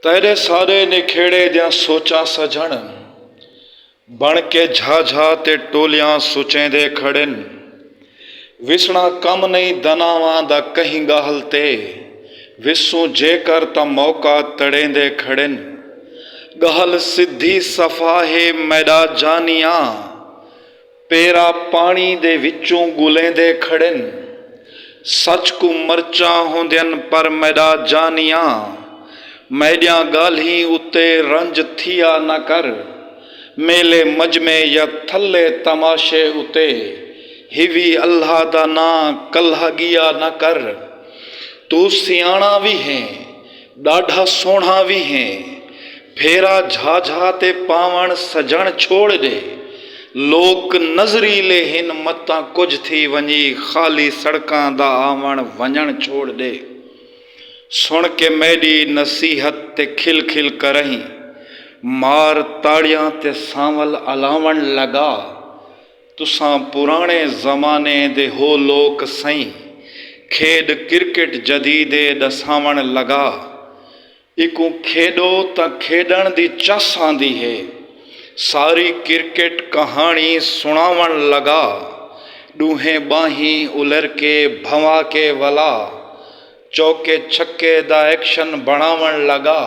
تیݙے سارے نکھیڑے دیاں سوچاں سجݨ بݨ کے جھا جھا تے ٹولیاں سچیندے کھڑن وسݨا کم نئیں دناواں دا کہیں ڳالھ تے وسوں جیکر تاں موقع تڑیندے کھڑن ڳالھ سدھی صفا ہے میݙا جانیاں پیرا پاݨی دے وچوں ڳلیندے کھڑن۔ سچ کوں مرچاں ہوندین پر میݙا جانیاں میݙیاں ڳالھیں اتے رنج تھیا نہ کر۔ میلے مجمعے یا تھلے تماشے اتے ہیوی اللہ دا ناں کلہا ڳیا نہ کر۔ توں سیاݨا وی ہیں ݙاڈھا سوہݨا وی ہیں پھیرا جھا جھا تے پاوݨ سجݨ چھوڑ ݙے لوک نظریلے ہن متاں کجھ تھی ونڄی خالی سڑکاں دا آوݨ ونڄݨ چھوڑ ݙے سݨ کے میݙی نصیحت تے کھل کھل کرہیں مار تاڑیاں تے سانول الاوݨ لڳا تساں پراݨے زمانے دے ہو لوک سئیں کھیݙ کرکٹ جدیدے ݙساوݨ لڳا ایکوں کھیݙو تاں کھیݙݨ دی چس آندی ہے ساری کرکٹ کہاݨی سݨاوݨ لڳا ݙوہیں ٻانہیں الر کے بھنوا کے ولا چوکے چھکے دا ایکشن بݨاوݨ لڳا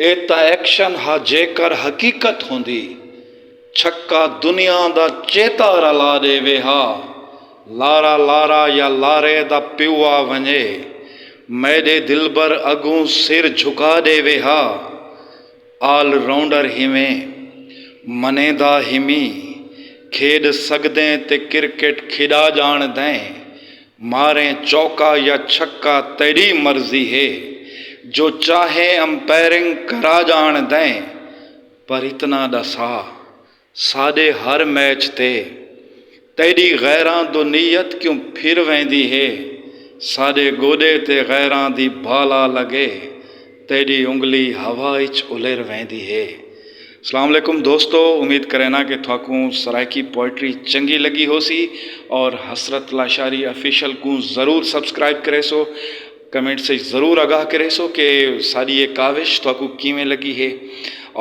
اے تاں ایکشن ہا جیکر حقیقت ہوندی چھکا دنیا دا چیتا رلا ݙیوے ہا لارا لارا یا لارے دا پیو آ ونڄے میݙے دلبر اڳوں سر جھکا ݙیوے ہا آل راؤنڈر ہیویں منیندا ہیمیں کھیݙ سڳدیں تے کرکٹ کھیݙا ڄاݨدیں ماریں چوکا یا چھکا تیݙی مرضی ہے جو چاہیں امپیئرنگ کرا ڄاݨدیں پر اتنا ڈسا ساڈے ہر میچ تے تیڈی غیراں دو نیت کیوں پھر ویندی ہے ساڈے گوڈے تے غیراں دی بالا لگے تیڈی انگلی ہوا اچ الر ویندی ہے۔ سلام علیکم دوستو امید کرینا کہ تھاکوں سرائیکی پوئٹری چنگی لگی ہوسی اور حسرت لاشاری آفیشل کوں ضرور سبسکرائب کریسو۔ کمنٹس اچ ضرور آگاہ کریسو کہ ساڈی اے کاوش تہاکوں کیویں لگی ہے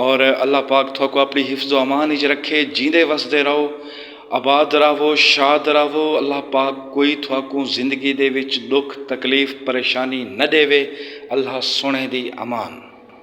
اور اللہ پاک تہاکوں اپنی حفظ و امان اچ رکھے جیندے وسدے رہو آباد راہوو شاد راہوو اللہ پاک کوئی تہاکوں زندگی دے وچ ڈکھ تکلیف پریشانی نہ ڈیوے اللہ سوہنے دی امان۔